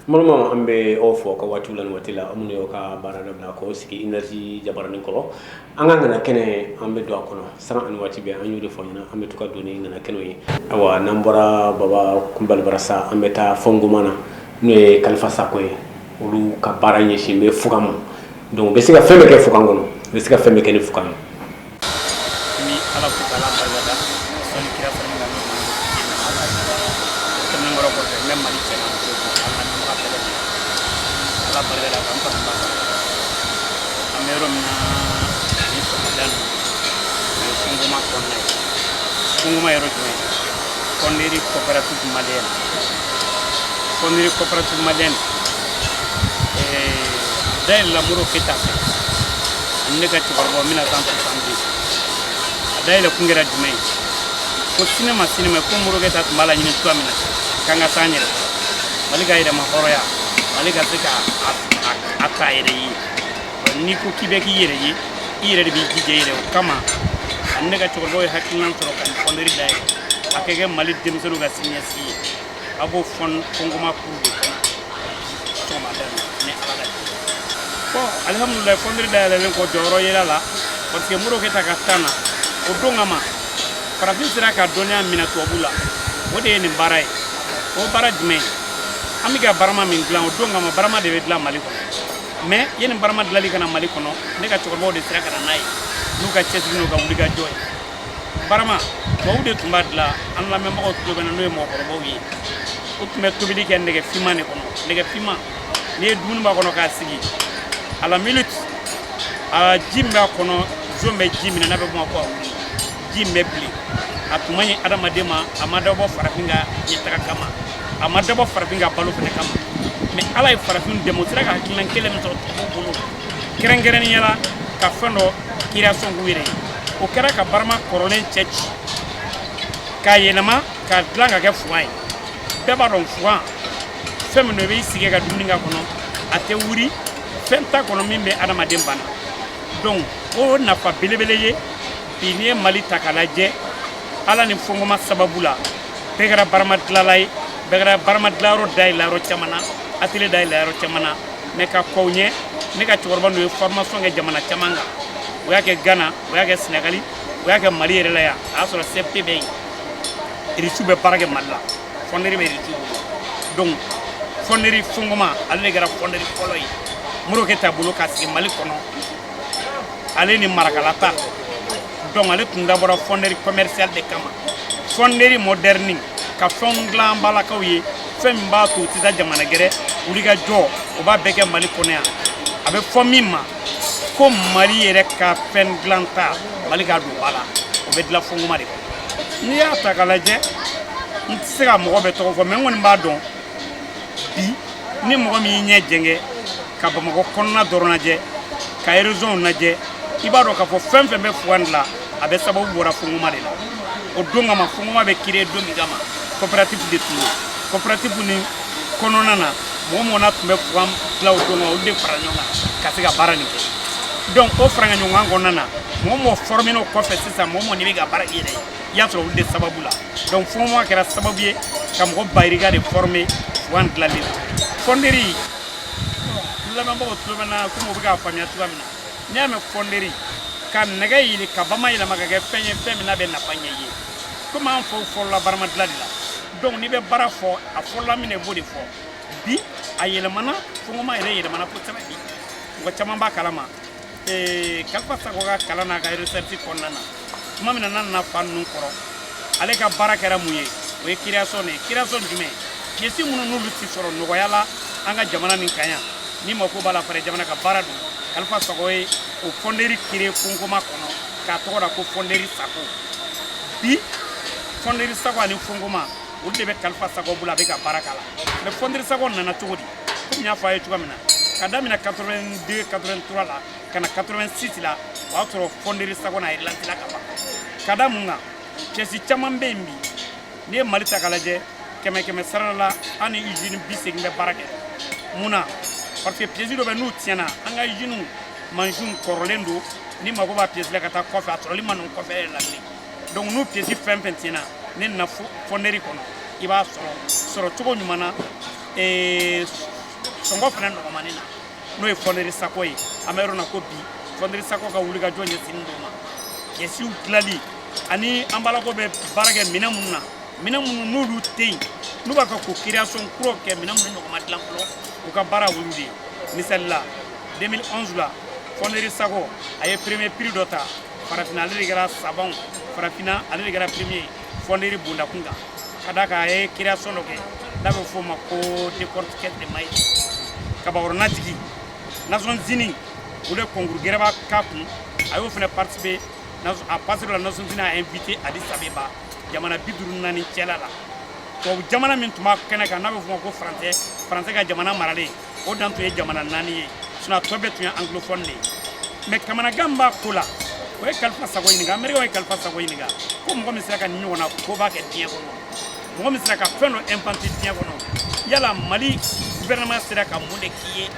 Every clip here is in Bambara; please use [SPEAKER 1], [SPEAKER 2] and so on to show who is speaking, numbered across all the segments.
[SPEAKER 1] Malama an bɛ aw fo ka waati la waati la aw minnu y'aw ka baara dabila ka sigi énergie jabaranin kɔrɔ an ka ŋana kɛnɛ an bɛ don a kɔnɔ san ani waati bɛɛ an y'o de fɔ ɲɛna an bɛ to ka don ŋana kɛnɛ ye ayiwa n'an bɔra baba kulubali bara sa an bɛ taa fɔnkɔma na n'o ye kalifa sakɔ ye olu ka baara ɲɛsinnen bɛ fugan ma donc u bɛ se ka fɛn bɛɛ kɛ fugan kɔnɔ u bɛ se ka fɛn bɛɛ kɛ ni fug
[SPEAKER 2] n bɛ ala fo ka ala barika da sɔnni kira fana na tɛmɛn kɔrɔ kɔfɛ n bɛ mali cɛ ala nafa bɛɛ lajɛlen ala barika da k'an fana ba an bɛ yɔrɔ min na nin sɔgɔmada nin na o ye fɔnkɔma kɔnɔna ye fɔnkɔma yɔrɔ jumɛn fonderie coopérative malienne fonderie coopérative malienne dayɛlɛla modibo keyita fɛ ani ne ka cɛkɔrɔba mille neuf cent soixante-dix a dayɛlɛ kun kɛra jumɛn ye ko sini ma sini ma ko modibo keyita tun b'a laɲini cogoya min na k'an ka se an yɛrɛ mali ka yɛrɛmahɔrɔnya mali ka se ka a k'a yɛrɛ ye n'i ko k'i b'a k'i yɛrɛ ye i yɛrɛ de b'i jija i yɛrɛ o kama ani ne ka cɛkɔrɔbaw ye hakililan sɔrɔ ka nin fonderie dayɛlɛ a ka kɛ mali denmisɛnninw ka siniɲɛsigi ye an b'o fɔnkɔma kuru de kɔnɔ sɔgɔmada in ni ala ka jɛ bon alihamudulilayi fonderie dayɛlɛlen kɔ jɔyɔrɔ yera a la parce que modibo keyita ka tan na o don kama farafin sera ka dɔnniya minɛ tubabu la o de ye nin baara ye o baara jumɛn ye an bɛ ka barama min dilan o don kama barama de bɛ dilan mali kɔnɔ mais yanni barama dilali ka na mali kɔnɔ ne ka cɛkɔrɔbaw de sera ka na n'a ye n'u ka cɛsiri n'u ka wulikajɔ ye barama tɔw de tun b'a dilan an lamɛnbagaw tulo b'an na n'o ye mɔgɔkɔrɔbaw ye u tun bɛ tobili kɛ nɛgɛ finman de kɔnɔ nɛgɛ finman ni dumuni b'a kɔnɔ k'a sigi à la minute a ji min b'a kɔnɔ zon bɛ ji minɛ n'a bɛ bɔ ko a wuli ji min bɛ bilen a tun man ɲi adamaden ma a ma dabɔ farafin ka ɲɛtaga kama a ma dabɔ farafin ka balo fana kama mais ala ye farafin dɛmɛ u sera ka hakililan kelen min sɔrɔ tubabuw bolo kɛrɛnkɛrɛnnenya la ka fɛn dɔ création k'u yɛrɛ ye o kɛra ka barama kɔrɔlen cɛci k'a yɛlɛma k'a dilan ka kɛ fugan ye bɛɛ b'a dɔn fugan fɛn min don i b'i sigi ka dumuni k'a kɔnɔ a tɛ wuli fɛn t'a kɔnɔ min bɛ adamaden bana donc o nafa belebele ye bi n'i ye mali ta k'a lajɛ ala ni fɔnkɔma sababu la bɛɛ kɛra barama dilala ye bɛɛ kɛra barama dilayɔrɔ dayɛlɛ yɔrɔ caman na atelier dayɛlɛ yɔrɔ caman na mɛ ka kɔn o ɲɛ ne ka cɛkɔrɔba ninnu ye formation kɛ jamana caman kan o y'a kɛ ghana o y'a kɛ sɛnɛgali o y'a kɛ mali yɛrɛ la yan a y'a sɔrɔ cfp bɛ yen irisiw bɛ baara kɛ mali la fɔnderi bɛ irisiw bolo donc fɔnderi fɔnkɔma ale de kɛra fɔnderi fɔlɔ ye modibo keyita bolo ka sigi mali kɔnɔ ale ni marakala ta donc ale tun dabɔra fɔnderi commercial de kama fɔnderi modɛrni ka fɛnw dilan balakaw ye fɛn min b'a to u tɛ taa jamana gɛrɛ wulikajɔ o b'a bɛɛ kɛ mali kɔnɔ yan a bɛ fɔ min ma ko mali yɛrɛ ka fɛn dilanta mali ka don b'a la o bɛ dilan fɔnkɔma de kɔnɔ n'i y'a ta ka lajɛ n tɛ se ka mɔgɔ bɛɛ tɔgɔ fɔ mɛ n kɔni b'a dɔn bi ni mɔgɔ min y'i ɲɛ jɛngɛ ka bamakɔ kɔnɔna dɔrɔn lajɛ ka erezɔnw lajɛ i b'a dɔn k'a fɔ fɛn fɛn bɛ fugan de la a bɛɛ sababu bɔra fɔnkɔma de la o don kama fɔnkɔma bɛ kire don min kama coopérative de tun don coopérative nin kɔnɔna na mɔgɔ mɔgɔ na tun bɛ fugan dila o don na olu de fara ɲɔgɔn kan ka se ka baara nin kɛ donc o faraɲɔgɔnkan kɔnɔna na mɔgɔ mɔgɔ fɔrɔmena o kɔfɛ sisan mɔgɔ mɔgɔ n'i bɛ ka baara k'i yɛrɛ ye i y'a sɔrɔ olu de sababu la donc fɔnkɔma kɛra sababu ye ka mɔgɔ bayirika de fɔrɔme fugan dilanli la fɔnderi lamɛnbagaw tulo bɛ n na komi u bɛ k'a faamuya cogoya min na n'i y'a mɛn fɔnderi ka nɛgɛ yeele k'a ba mayɛlɛma k'a kɛ fɛn ye fɛn min n'a bɛ nafa ɲɛ i ye komi an faw fɔlɔla barama dilan de la donc n'i bɛ baara fɔ a fɔlɔla min na i b'o de fɔ bi a yɛlɛmana fɔnkɔma yɛrɛ yɛlɛmana kosɛbɛ bi mɔgɔ caman b'a kalama kalifa sakɔ ka kalan n'a ka recherche kɔnɔna na tuma min na n'a nana fa ninnu kɔrɔ ale ka baara kɛra mun ye o ye kiriyasɔn de ye kiriyasɔn jumɛn pièce minnu n'olu tɛ sɔrɔ nɔgɔya la an ka jamana nin kan yan ni mako b'a la fara jamana ka baara don kalifa sakɔ ye o fɔnderi kire fɔnkɔma kɔnɔ k'a tɔgɔ da ko fɔnderi sakɔ bi fɔnderi sakɔ ani fɔnkɔma olu de bɛ kalifa sakɔ bolo a bɛ ka baara k'a la mɛ fɔnderi sakɔ nana cogo di komi n y'a fɔ a ye cogoya min na ka daminɛ 82 83 la ka na 86 la o y'a sɔrɔ fɔnderi sakɔ na a yɛrɛ lantila ka ban ka da mun kan pièce caman bɛ yen bi n'i ye mali ta ka lajɛ kɛmɛ kɛmɛsarada la an ni usine biseegin bɛ baara kɛ mun na parce que pièce dɔ bɛ n'u tiɲɛna an ka usine mansinw kɔrɔlen don ni mako b'a pièce la ka taa kɔfɛ a sɔrɔli man nɔgɔn kɔfɛ yɛrɛ la bilen donc n'u pièce fɛn fɛn tiɲɛna n'i nana fɔnderi kɔnɔ i b'a sɔrɔ cogo ɲuman na sɔngɔ fana nɔgɔmannin na n'o ye fɔnderi sakɔ ye an bɛ yɔrɔ na ko bi fɔnderi sakɔ ka wulikajɔ ɲɛsinnen d'o ma piècew dilali ani an balakaw bɛ baara kɛ minɛn minnu na minɛn minnu n'olu tɛ yen n'u b'a fɛ k'u création kuraw kɛ minɛn minnu ɲɔgɔn ma dilan fɔlɔ u ka baara olu de ye misali la 2011 la fɔnderi sakɔ a ye premier prix dɔ ta farafinna ale de kɛra sabanw farafinna ale de kɛra premier ye fɔnderi bonda kunkan ka da kan a ye création dɔ kɛ n'a bɛ f'o ma ko décortiqueur de maïs kabagɔrɔnan tigi Nations Unies olu ye concours gɛrɛba k'a kun a y'o fana participer à partir de là Nations Unies a invité Addis Abeba jamana bi duuru naani cɛla la tubabu jamana min tun b'a kɛnɛ kan n'a bɛ f'o ma ko français français ka jamana maralen o dan tun ye jamana naani ye sinɔn a tɔ bɛɛ tun ye angilofɔni de ye mɛ kamanagan b'a ko la o ye kalifa sago ɲininka amerikɛn ye kalifa sago ɲininka ko mɔgɔ min sera ka nin ɲɔgɔnna koba kɛ diɲɛ kɔnɔ mɔgɔ min sera ka fɛn dɔ inventer diɲɛ kɔnɔ yala mali guvɛrɛnɛman sera ka mun de k'i ye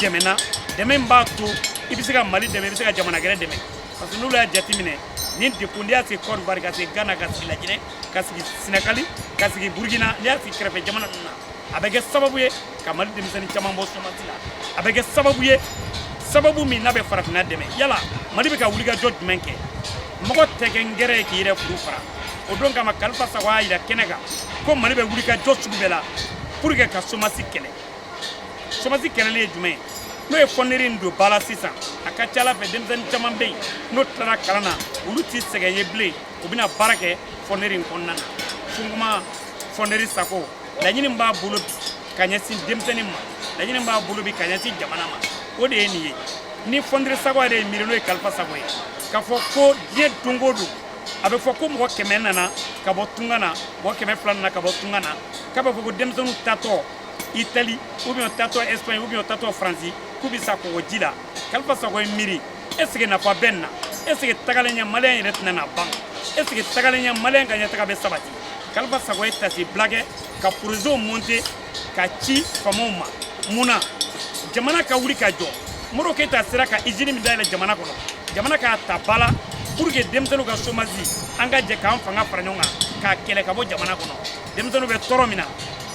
[SPEAKER 2] dɛmɛ na dɛmɛ min b'a to i bɛ se ka mali dɛmɛ i bɛ se ka jamana gɛrɛ dɛmɛ parce que n'olu y'a jateminɛ ni dekun n'i y'a sigi kɔdiwari ka sigi gana ka sigi lajinɛ ka sigi senegali ka sigi burukina n'i y'a sigi kɛrɛfɛ jamana ninnu na a bɛ kɛ sababu ye ka mali denmisɛnnin caman bɔ somasi la a bɛ kɛ sababu ye sababu min n'a bɛ farafinna dɛmɛ yala mali bɛ ka wulikajɔ jumɛn kɛ mɔgɔ tɛ kɛ ngɛrɛn ye k'i yɛrɛ furu fara o don kama kalifa sago y'a yira kɛnɛ kan ko mali bɛ wulikajɔ sugu bɛɛ la pour que ka somasi kɛlɛ somasi kɛlɛli ye jumɛn ye n'o ye fɔnneri in don ba la sisan a ka ca ala fɛ denmisɛnnin caman bɛ yen n'o tilara kalan na olu tɛ sɛgɛn ye bilen u bɛna baara kɛ fɔnneri in kɔnɔna na sunkuma fɔnneri sago laɲini b'a bolo bi ka ɲɛsin denmisɛnnin ma laɲini b'a bolo bi ka ɲɛsin jamana ma o de ye nin ye ni fɔnderi sago yɛrɛ y'i miiri n'o ye kalifa sago ye k'a fɔ ko diɲɛ don o don a bɛ fɔ ko mɔgɔ kɛmɛ nana ka bɔ tunga na mɔgɔ kɛmɛ fila nana ka bɔ tunga na k'a bɛ fɔ ko denmisɛnninw tatɔ itali ubiyɛn tatɔ ɛsipaɲi ubiyɛn tatɔ faransi k'u bɛ sa kɔgɔji la kalifa sago y'i miiri eseke nafa bɛ nin na eseke tagalen ɲɛ maliyɛn yɛrɛ tɛna na ban eseke tagalen ɲɛ maliyɛn ka ɲɛtaga bɛ sabati kalifa sago ye taasibila kɛ ka porozew monte ka ci faamaw ma munna jamana ka wuli ka jɔ modibo keyita sera ka izini min dayɛlɛ jamana kɔnɔ jamana k'a ta ba la pour que denmisɛnninw ka somasi an ka jɛ k'an fanga fara ɲɔgɔn kan k'a kɛlɛ ka bɔ jamana kɔnɔ denmisɛnninw bɛ tɔɔrɔ min na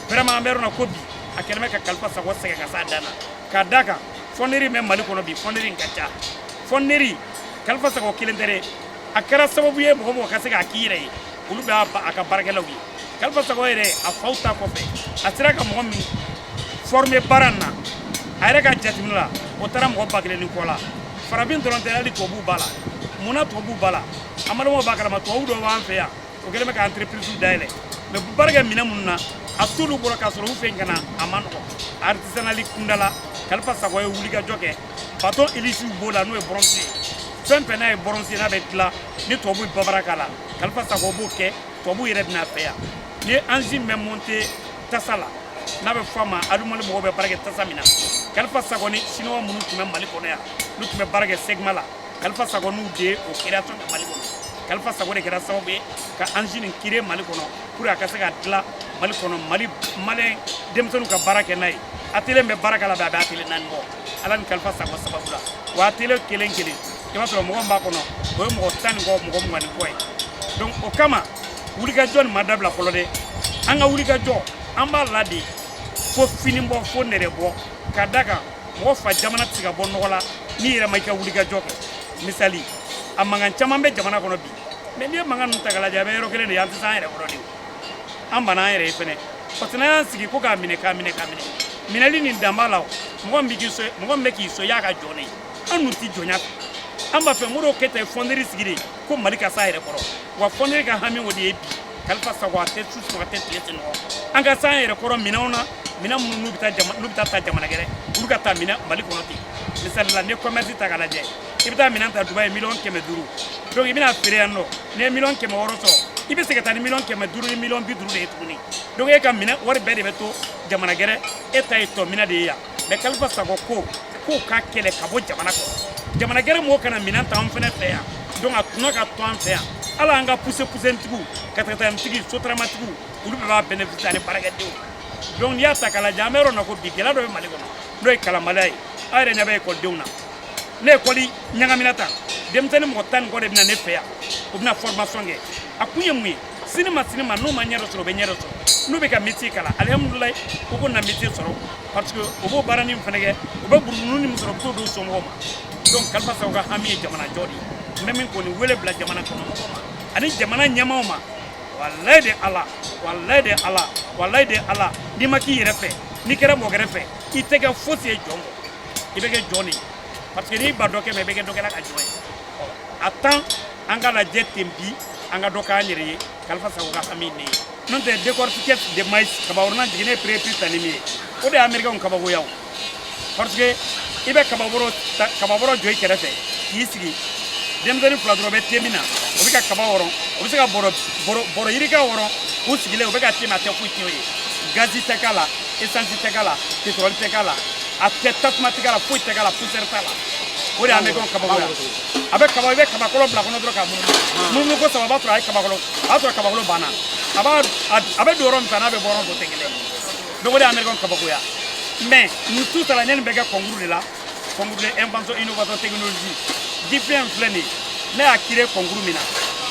[SPEAKER 2] vraiment an bɛ yɔrɔ na ko bi a kɛlen bɛ ka kalifa sago sɛgɛn ka s'a dan na ka da kan fɔneri bɛ mali kɔnɔ bi fɔneri in ka ca fɔneri kalifa sago kelen tɛ dɛ a kɛra sababu ye mɔgɔ mɔgɔ ka se k'a k'i yɛrɛ ye olu bɛ a ka baarakɛlaw ye kalifa sago yɛrɛ a faw ta kɔfɛ a sera ka mɔgɔ min forme baara in na a yɛrɛ ka jateminɛ la o taara mɔgɔ ba kelen ni kɔ la farafin dɔrɔn tɛ hali tubabuw b'a la munna tubabuw b'a la adamadenw b'a kalama tubabu dɔw b'an fɛ yan o kɛlen bɛ ka entreprise dayɛlɛ mɛ u bɛ baara kɛ minɛn minnu na a t'olu bɔra k'a sɔrɔ u fɛ yen ka na a ma nɔgɔ artisanali kundala kalifa sago ye wulikajɔ kɛ batɔn elisi b'o la n'o ye bɔrɔnsi ye fɛn fɛn n'a ye bɔrɔnsi ye n'a bɛ dilan ni tubabu ye baara k'a la kalifa sago b'o kɛ tubabu yɛrɛ bɛ na an fɛ yan ni anzin bɛ monte tasa la n'a bɛ fɔ a ma adumali mɔgɔw bɛ baara kɛ tasa min na kalifa sago ni siniwa minnu tun bɛ mali kɔnɔ yan n'u tun bɛ baara kɛ segma la kalifa sago n'u de ye o création kɛ mali kɔnɔ kalifa sago de kɛra sababu ye ka anzin nin créer mali kɔnɔ pour a ka se ka dilan mali kɔnɔ mali maliyɛn denmisɛnninw ka baara kɛ n'a ye atelier bɛ baara kɛ la bɛ a bɛ atelier naani bɔ ala ni kalifa sago sababu la wa atelier kelen kelen i b'a sɔrɔ mɔgɔ min b'a kɔnɔ o ye mɔgɔ tan ni kɔ mɔgɔ mugan ni kɔ ye donc o kama wulikajɔ nin ma dabila fɔlɔ dɛ an ka wulikajɔ an b'a la de fo fini bɔ fo nɛrɛ bɔ ka da kan mɔgɔ fa jamana tɛ se ka bɔ nɔgɔ la n'i yɛrɛ ma i ka wulikajɔ kɛ misali a mankan caman bɛ jamana kɔnɔ bi mais n'i ye mankan ninnu ta k'a lajɛ a bɛ yɔrɔ kelen de ye an tɛ se an yɛrɛ kɔrɔ de an banna an yɛrɛ ye fɛnɛ parce que n'an y'an sigi ko k'a minɛ k'a minɛ k'a minɛ minɛli nin dan b'a la o mɔgɔ min bɛ k'i sɔn mɔgɔ min bɛ k'i sɔn i y'a ka jɔn de ye an dun tɛ jɔnya fɛ an b'a fɛ modibo keyita ye fɔnderi sigi de ko mali ka s'a yɛrɛ kɔrɔ wa fɔnderi ka hami o de ye bi kalifa sago a tɛ su sunɔgɔ a tɛ tile sunɔgɔ an ka s'an yɛrɛ kɔrɔ minɛnw na minɛn minnu n'u bɛ taa jama n'u bɛ taa ta jamana gɛrɛ olu ka ta minɛ mali kɔnɔ ten misali la n'i ye kɔmɛrisi ta k'a lajɛ i bɛ taa minɛn ta dubayi miliyɔn kɛmɛ duuru donc i bɛ n'a feere yan nɔ n'i ye miliyɔn kɛmɛ wɔɔrɔ sɔrɔ i bɛ se ka taa ni miliyɔn kɛmɛ duuru ni miliyɔn bi duuru de ye tuguni donc e ka minɛn wari bɛɛ de bɛ to jamana gɛrɛ e ta ye tɔminɛ de ye yan mais kalifa sago ko k'o ka kɛlɛ ka bɔ jamana kɔnɔ jamana gɛrɛ mɔgɔw ka na minɛn ta an fɛnɛ fɛ yan donc a tɔnɔ ka to an fɛ yan ala an ka pusupusutigiw katakatanintigiw sotaramatigiw olu bɛɛ b'a bénéficier ani baarakɛdenw donc n'i y'a ta k'a lajɛ an bɛ yɔrɔ na ko bi gɛlɛya dɔ bɛ mali kɔnɔ n'o ye kalanbaliya ye aw yɛrɛ ɲɛ bɛ ekɔlidenw na ni ekɔli ɲagamina tan denmisɛnnin mɔgɔ tan ni kɔ de bɛ na ne fɛ yan u bɛ na formation kɛ a kun ye mun ye sini ma sini ma n'u ma ɲɛ dɔ sɔrɔ u bɛ ɲɛ dɔ sɔrɔ n'u bɛ ka métier kalan alihamudulilayi u ko na métier sɔrɔ parce que u b'o baaranin min fana kɛ u bɛ buruburunin min sɔrɔ u bɛ t'o di u somɔgɔw ma donc kalifa sago ka hami ye jamana jɔ de ye n bɛ min kɔni wele bila jamana kɔnɔ ani jamana ɲɛmaaw ma walayi de ala walayi de ala walayi de ala n'i ma k'i yɛrɛ fɛ n'i kɛra mɔgɔ wɛrɛ fɛ i tɛ kɛ fosi ye jɔn kɔ i bɛ kɛ jɔn de ye parce que n'i banna dɔ kɛ ma i bɛ kɛ dɔ kɛla ka jɔn ye a to an k'a lajɛ ten bi an ka dɔ k'an yɛrɛ ye kalifa sago ka hami de ye n'o tɛ décortiqueuse de maïs kabakuruna jiginnen premier prix tali min ye o de ye américainw kabakoya parce que i bɛ kababɔrɔ kababɔrɔ jɔ i kɛrɛfɛ k'i sigi denmisɛnnin fila dɔrɔn bɛ te min na o bɛ ka kaba wɔrɔ o bɛ se ka bɔrɔ yirika wɔrɔ u sigilen u bɛ ka te min a tɛ foyi tiɲɛ o ye gazi tɛ k'a la esansi tɛ k'a la petrɔli tɛ k'a la a tɛ tasuma tɛ k'a la foyi tɛ k'a la poussière t'a la o de ye américainw kabakoya a bɛ kaba i bɛ kabakolo bila kɔnɔ dɔrɔn k'a munumunu munumunu ko saba o b'a sɔrɔ a ye kabakolo o b'a sɔrɔ kabakolo banna a b'a a bɛ don yɔrɔ min fɛ an'a bɛ bɔ yɔrɔ min o tɛ kelen ye donc o de ye américainw kabakoya mais nin tout ça la ne nin bɛ kɛ concours de la concours de invention innovation technologie ji fiɲɛ filɛ nin ye ne y'a créé concours min na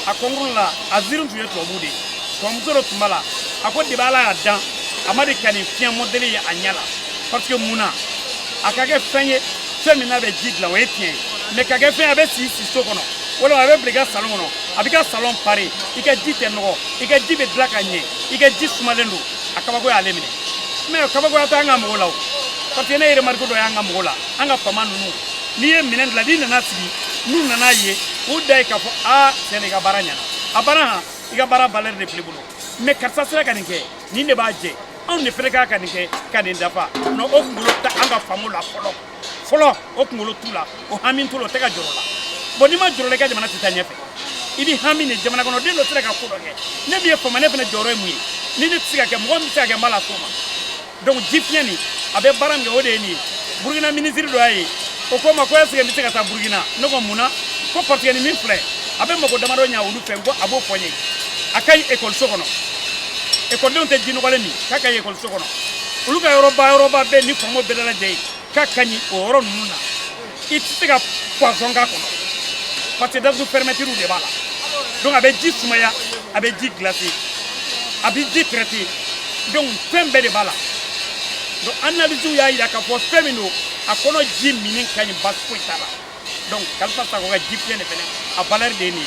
[SPEAKER 2] a concours la a jury tun ye tubabu de ye tubabumuso dɔ tun b'a la a ko depi ala y'a dan a ma deli ka nin fiɲɛ mɔdɛli ye a ɲɛ la parce que mun na a ka kɛ fɛn ye fɛn min n'a bɛ ji dilan o ye tiɲɛ ye mais ka kɛ fɛn ye a bɛ sigi so kɔnɔ walima a bɛ bila i ka salon kɔnɔ a b'i ka salon pare i ka ji tɛ nɔgɔ i ka ji bɛ dilan ka ɲɛ i ka ji sumalen don a kabako y'ale minɛ mais kabakoya tɛ an ka mɔgɔw la o parce que ne ye remarque dɔ y'an ka mɔgɔw la an ka faama ninnu n'i ye minɛn dilan n'i nan'a sigi n'u nan'a ye u da ye k'a fɔ a tiɲɛ na i ka baara ɲɛna a banna han i ka baara valeur de filɛ i bolo mais karisa sera ka nin kɛ nin de b'a jɛ anw de fɛnɛ kan ka nin kɛ ka nin dafa non o kunkolo t'an ka faamaw la fɔlɔ fɔlɔ o kunkolo t'u la o hami t'u la o tɛ ka jɔrɔ la bon n'i ma jɔrɔ la i ka jamana tɛ taa ɲɛfɛ i bɛ hami de jamana kɔnɔ den dɔ sera ka ko dɔ kɛ ne min ye faama ne fana jɔyɔrɔ ye mun ye ni ne tɛ se ka kɛ mɔgɔ min bɛ se ka kɛ n b'a las'o ma donc ji fiɲɛ nin a bɛ baara min kɛ o de ye nin ye burukina minisiri dɔ y'a ye o ko n ma ko est ce que n bɛ se ka taa burukina ne ko mun na ko parce que nin min filɛ a bɛ mago damadɔ ɲa olu fɛ n ko a b'o fɔ n ye a ka ɲi ekɔliso kɔnɔ ekɔlidenw tɛ ji nɔgɔlen min k'a ka ɲi ekɔliso kɔnɔ olu ka yɔrɔba yɔrɔba bɛɛ n'i ko mɔgɔ bɛ dalajɛ yen k'a ka ɲi o yɔrɔ ninnu na i tɛ se ka poison k'a kɔnɔ parce que datugu fermeturew de b'a la donc a bɛ ji sumaya a bɛ ji glacer a bɛ ji traiter donc fɛn bɛɛ de b'a la donc analysew y'a jira k'a fɔ fɛn min don a kɔnɔ ji minni ka ɲi basi foyi t'a la donc kalifa sakɔ ka ji fiɲɛ de fɛnɛ a valeur de ye nin ye